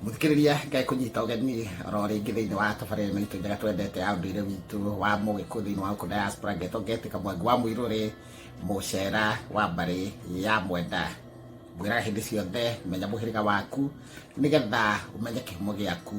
Mũthikĩrĩria ngai kũnyita ũgeni oro rĩngĩ thĩinĩ wa tabarĩra ĩno itũ njega twendete ya ũndũire witũ wa mũgĩkũ thĩinĩ wa ũkũnda ya Sprangeto ngetĩka mwangi wa mũirũrĩ mũcera wa mbarĩ ya mwenda ngwĩraga hĩndĩ ciothe menya mũhĩrĩga waku nĩgetha ũmenye kĩhumo gĩaku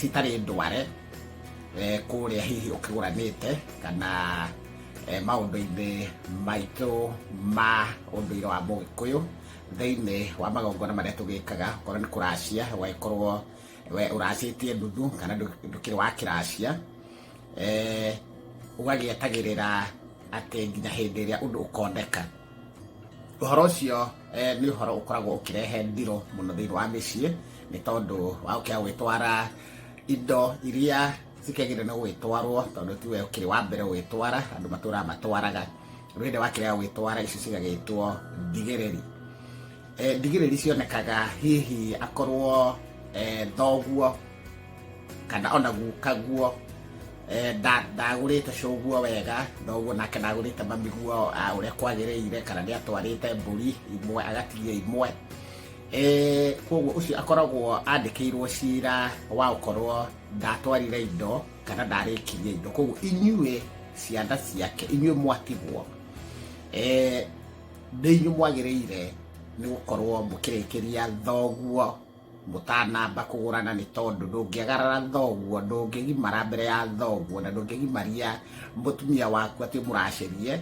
citarĩ ndware kũrĩa hihi ũkĩgũranĩte kana maũndũ-inĩ maitũ ma ũndũire wa Mũgĩkũyũ thĩinĩ wa magongona marĩa tũgĩkaga, okorwo nĩ kũracia ũgagĩkorwo ũracĩtie nuthu kana ndũkĩrĩ wa kĩracia, ũgagĩetagĩrĩra atĩ nginya hĩndĩ ĩrĩa ũndũ ũkoneka. Ũhoro ũcio nĩ ũhoro ũkoragwo ũkĩrehe ndiro mũno thĩinĩ wa mĩciĩ nĩ tondũ wa gũkĩaga gwĩtwara indo iria cikĩagĩrĩire nĩ gũgĩtwarwo tondũ tiwe ũkĩrĩ wa mbere gũgĩtwara, andũ matũraga matwaraga. Rĩu hĩndĩ ĩrĩa wakĩrega gwĩtwara icio cigagĩtwo thigĩrĩri. Eh, ndigĩrĩri cionekaga hihi akorwo eh, thoguo kana ona gukaguo eh, nda- ndagũrĩte cũguo wega thoguo nake ndagũrĩte mamiguo ah, ũrĩa kwagĩrĩire kana nĩ atwarĩte mbũri imwe agatigia imwe Eh, koguo ũcio akoragwo andĩkĩirwo cira wa gũkorwo ndatwarire indo kana ndarĩkirie indo koguo inyuĩ ciana ciake inyuĩ mwatigwo Eh, nĩ inyuĩ mwagĩrĩire nĩ gũkorwo mũkĩrĩkĩria thoguo mũtanamba kũgũrana nĩ tondũ ndũngĩagarara thoguo ndũngĩgimara mbere ya thoguo na ndũngĩgimaria mũtumia waku atĩ mũracerie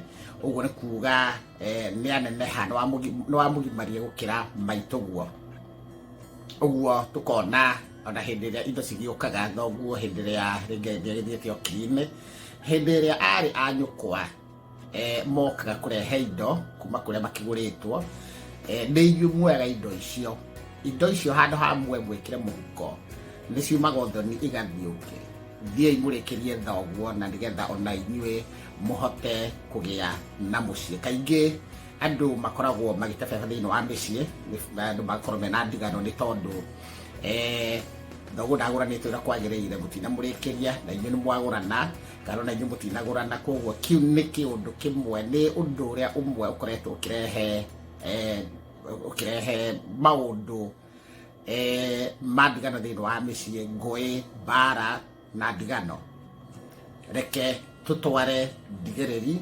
ũguo nĩ kuga eh, nĩ aneneha nĩ wamũgimarie gũkĩra maitũguo ũguo tũkona ona hĩndĩ ĩrĩa indo cigĩũkaga thoguo hĩndĩ ĩrĩa rĩngĩ gĩthiĩte okiinĩ hĩndĩ ĩrĩa arĩ anyũkwa eh, mokaga kũrehe indo kuma kũrĩa makĩgũrĩtwo eh, nĩ inyuĩ muoyaga indo icio indo icio handũ ha muoe mwĩkĩre mũhuko nĩ ciumaga ũthoni igathiũke thiĩi mũrĩkĩrie thoguo na nĩgetha ona inyuĩ mũhote kũgĩa na mũciĩ kaingĩ andũ makoragwo magĩtebeba thĩinĩ wa mĩciĩ nĩ- andũ magakorwo mena ndigano nĩ tondũ eh, thoguo ndagũranĩtwo ĩrĩa kwagĩrĩire mũtinamũrĩkĩria na inyuĩ nĩ mwagũrana Ngano na inyuĩ mũtinagũrana, koguo kĩu nĩ kĩũndũ kĩmwe, nĩ ũndũ ũrĩa ũmwe ũkoretwo ũkĩrehe eh, ũkĩrehe maũndũ eh, ma ndigano thĩinĩ wa mĩciĩ, ngũĩ, mbara na ndigano. Reke tũtware ndigĩrĩri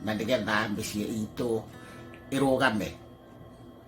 na nĩgetha mĩciĩ itũ ĩrũgame.